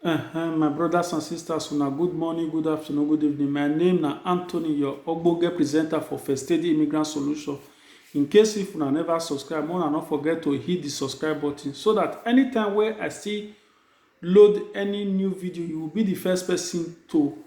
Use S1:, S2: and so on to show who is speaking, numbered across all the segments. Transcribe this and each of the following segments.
S1: Ehem, my brothers and sisters, una good morning, good afternoon, good evening. My name na Anthony, your ogbonge presenter for First Aid Immigrant Solution. In case if una never subscribe, una no forget to hit the subscribe button so that anytime wey I still load any new video, you will be the first person to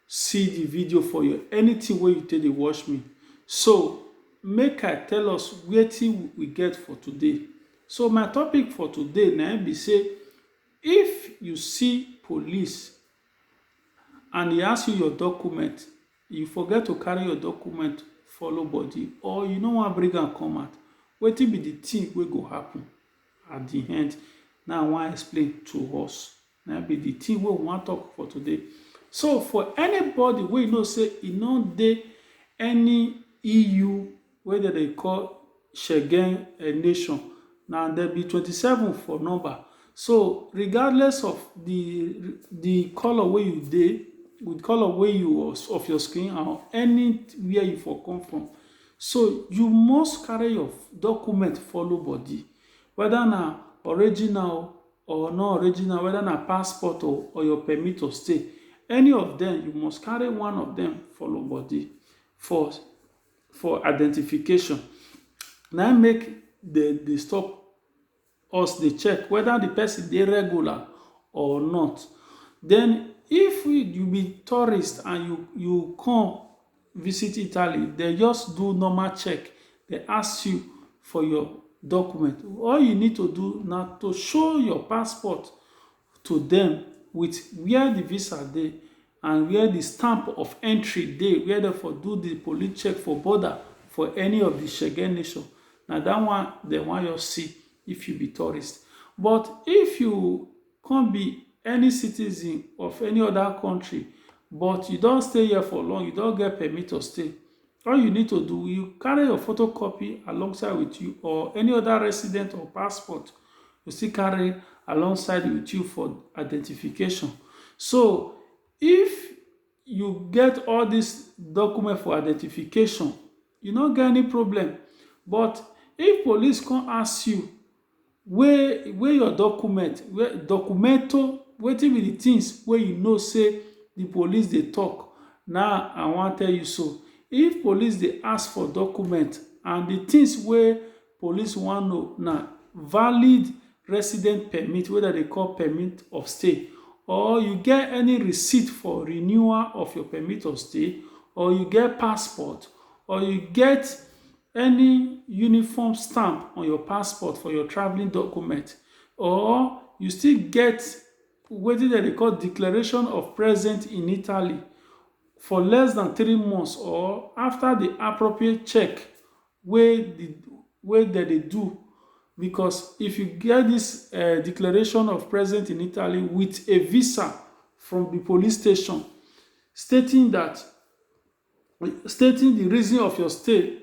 S1: see the video for your anything wey you take dey watch me so make i tell us wetin we get for today so my topic for today na be say if you see police and he ask you your document you forget to carry your document follow body or you no wan bring am come out wetin be the thing wey go happen at the end now i wan explain to us Na be the thing wey we wan talk for today. So for anybody wey you know say e no dey any EU wey dem dey call Schengen nation, na dem be twenty seven for number. So regardless of the the colour wey you dey, the colour wey you of your skin and anywhere you for come from, so you must carry your document follow body. Whether na original o or no original weda na passport o or your permit to stay any of dem you must carry one of dem for your body for for identification na im make dem dey stop us dey check weda de person dey regular or not den if you be tourist and you you come visit italy they just do normal check they ask you for your document all you need to do na to show your passport to them with where the visa dey and where the stamp of entry dey where they for do the police check for border for any of the shege nation na that one they wan just see if you be tourist but if you come be any citizen of any other country but you don stay here for long you don get permit to stay all you need to do you carry your photocopy alongside with you or any other resident or passport you still carry alongside with you for identification so if you get all this document for identification You no get any problem but if police come ask you wey wey your document wey documento wetin be the things wey you know say the police dey talk na I wan tell you so if police dey ask for document and the things wey police wan know na valid resident permit wey dem dey call permit of stay or you get any receipt for renewal of your permit of stay or you get passport or you get any uniform stamp on your passport for your travelling document or you still get wetin dem dey call declaration of present in Italy for less than three months or after the appropriate check wey di wey dem dey do because if you get dis um declaration of present in Italy wit a visa from di police station stating dat stating di reason of your stay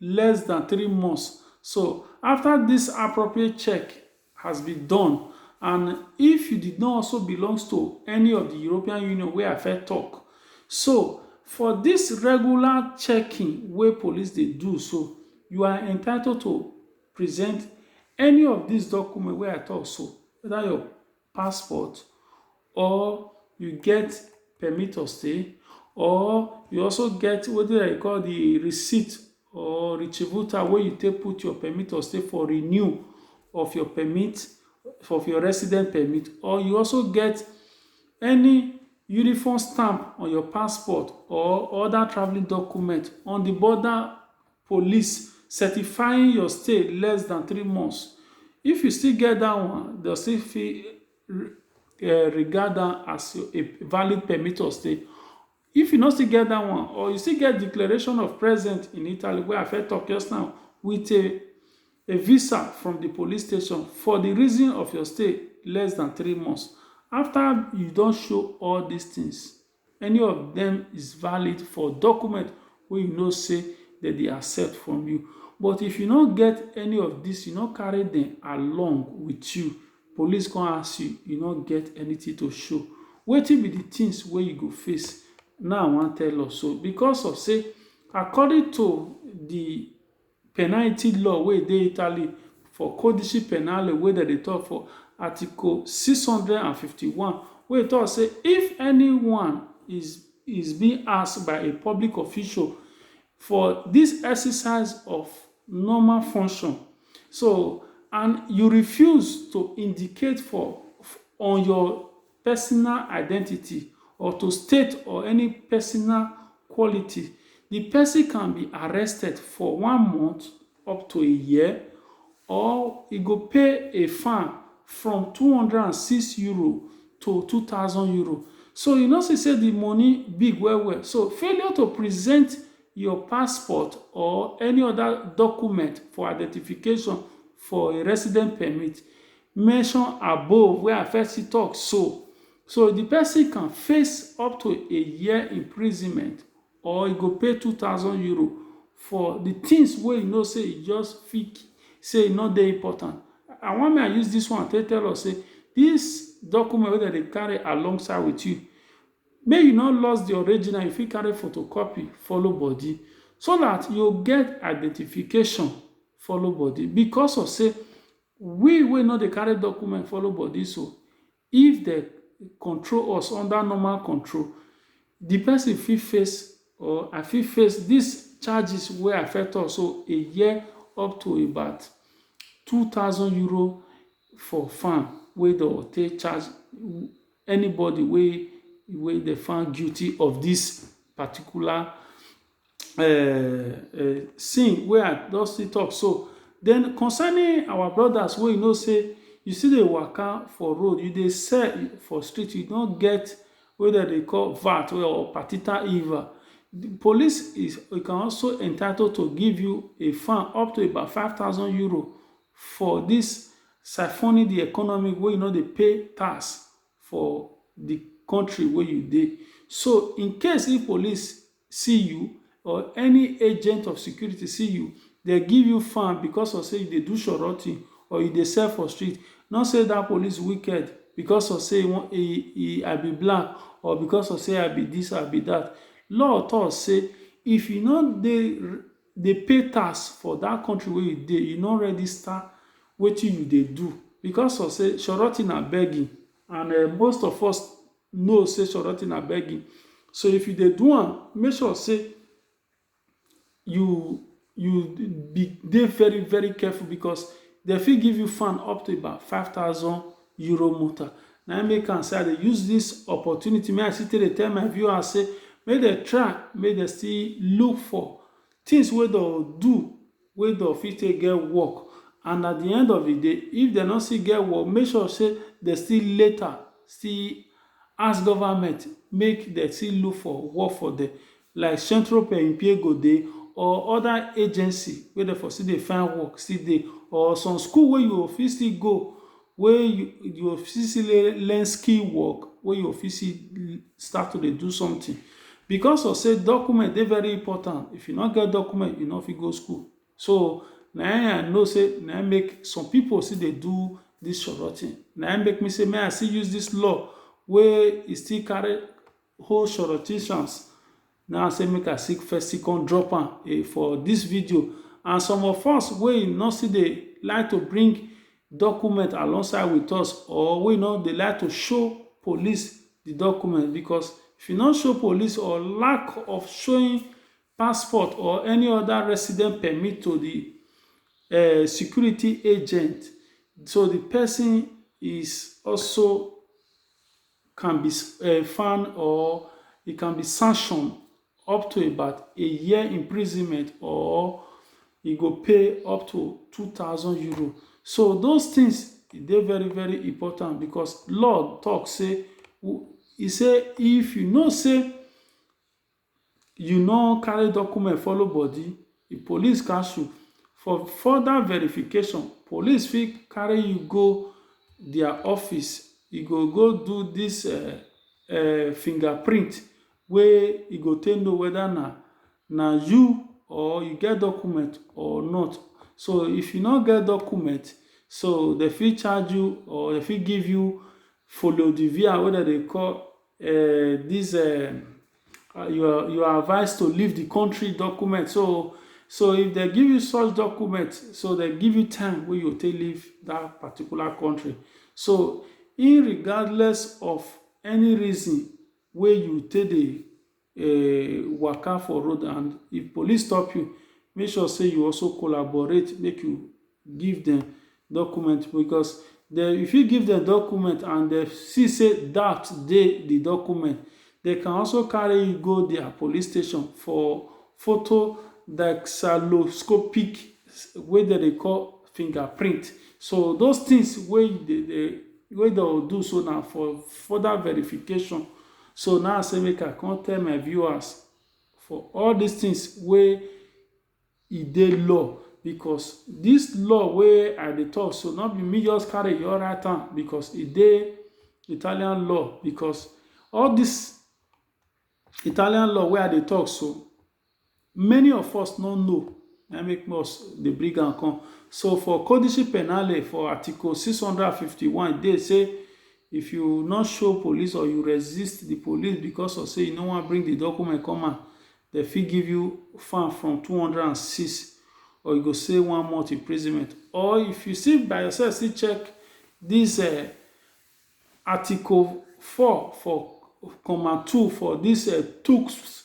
S1: less dan three months so afta dis appropriate check has been done and if you did not also belongs to any of di European Union wey I first tok so for dis regular checking wey police dey do so you are entitled to present any of dis documents wey I tok so weda your passport or you get permit of stay or you also get wetin dem call the receipt or retributor wey you take put your permit of stay for renew of your permit of your resident permit or you also get any uniform stamp on your passport or other traveling document on the border police certifying your stay less than three months. If you still get that one, dem still fit um regard am as a valid permit of stay. If you no still get dat one or you still get declaration of present in Italy wey I first talk just now with a a visa from the police station for the reason of your stay less than three months. After you don show all these things, Any of them is valid for document wey you know say dem dey accept from you. But if you no get any of this, you no carry them along with you, police come ask you, you no get anything to show. Wetin be the things wey you go face? Na I wan tell us so because of say according to the Penalty law wey dey Italy for Codice Penale wey dem dey tok for Article six hundred and fifty one wey tok say if anyone is is being asked by a public official for dis exercise of normal function so and you refuse to indicate for on your personal identity or to state or any personal quality, di pesin can be arrested for one month up to a year or e go pay a fine from two hundred and six euro to two thousand euro. So you no see sey di moni big well well. So failure to present your passport or any oda document for identification for a resident permit mention above wey I first still talk so, so di pesin can face up to a year imprisonment or e go pay two thousand euro for di tins wey e know sey e just fit sey e no dey important. I wan make I use dis one take tell us sey dis document wey dem dey carry along side wit you, make you no loss di original, you fit carry photocopy follow body so dat you go get identification follow body. Bicos of sey We wey no dey carry document follow body so, if dem control us under normal control, di pesin fit face or I fit face dis charges wey I first tok so, a year up to about two thousand euro for fine wey dem go take charge anybody wey wey dem find guilty of dis particular um um sing wey I don still talk so. Den concerning our brothers wey you know sey you still dey waka for road, you dey sell for street, you no get wey dem dey call VAT or partital IVA. De police is e can also entitled to give you a fine up to about five thousand euro for dis siphoning de economy wey you no dey pay tax for de country wey you dey. So, in case if police see you or any agent of security see you, dem give you fan because of sey you dey do shoroty or you dey sell for street, no sey dat police wicked because of sey I be black or because of sey I be dis or I be dat. Law talk sey if you no dey dey pay tax for dat country wey you dey, you no register wetin you dey do because of sey shoroty na begging and um most of us know say Soroti na begging. So if you dey do am, make sure say you you be dey very very careful because dem fit give you fan up to about five thousand euro motor. Na im make am say I dey use this opportunity make I still take dey tell my viewers say make dem try make dem still look for things wey dem do wey dem fit take get work and at di end of di day if dem no still get work make sure say dem still later still ask government make dem still look for work for dem like central per impiego dey or oda agency wey dem for still dey find work still dey or some school wey you go fit still go wey you go fit still learn skill work, wey you go fit still start to dey do something. Because of sey document dey very important, if you no get document, you no fit go school. So, na im I know sey na im make some pipu still dey do dis sototie. Na im make me say make I still use dis law wey e still carry whole sorotitions now say make i seek first see come drop am eh, for this video and some of us wey no still dey like to bring document alongside with us or wey no dey like to show police the document because if you no show police or lack of showing passport or any other resident permit to the uh, security agent so the person is also can be fan or e can be sanction up to about a year imprisonment or e go pay up to two thousand euro so those things e dey very very important because law talk say e say if you know say You no carry document follow body, the police catch you. For further verification, police fit carry you go their office. You go go do this uh, uh, fingerprint wey you go take know whether na na you or you get document or not. So if you no get document, so they fit charge you or they fit give you follow the via wey dem dey call uh, this uh, uh, you are you are advised to leave the country document so so if they give you such document so they give you time wey you take leave that particular country so regardless of any reason wey you take dey eh, waka for road and if police stop you make sure say you also collaborate make you give them document because they, if you give them document and they see say doubt dey the document they can also carry you go their police station for photo dactyloscopic wey dem dey call fingerprint so those things wey dey wey dem do so na for further verification So now I say make I come tell my viewers for all these things wey e dey law because this law wey I dey talk so not be me just carry your right hand because e dey Italian law because all this Italian law wey I dey talk so many of us no know na make us dey bring am come so for codice penale for article 651 e dey say if you no show police or you resist the police because of say you no wan bring the document come out dem fit give you fine from 206 or you go say one month imprisonment or if you see by yourself see check this uh, article 4 for comma 2 for this uh, tooks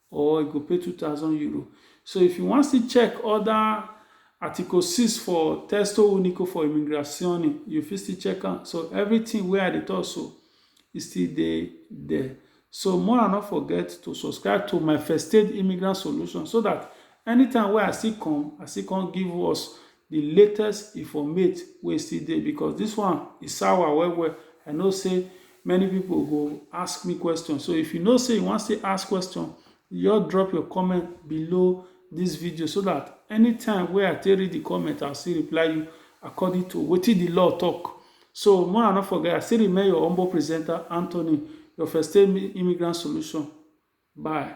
S1: or you go pay 2000 euro so if you wan still check other article 6 for testo unico for immigrazione you fit still check am so everything wey i dey talk so e still dey there so more and not forget to subscribe to my first aid immigrant solution so that anytime wey i still come i still come give us the latest informate wey still dey because this one e sour well well I know say many people go ask me question so if you know say you wan still ask question just drop your comment below this video so that anytime wey I take read the comment I'll still reply you according to wetin the law talk so more I not forget I still remain your humble presenter Anthony your first aid immigrant solution bye.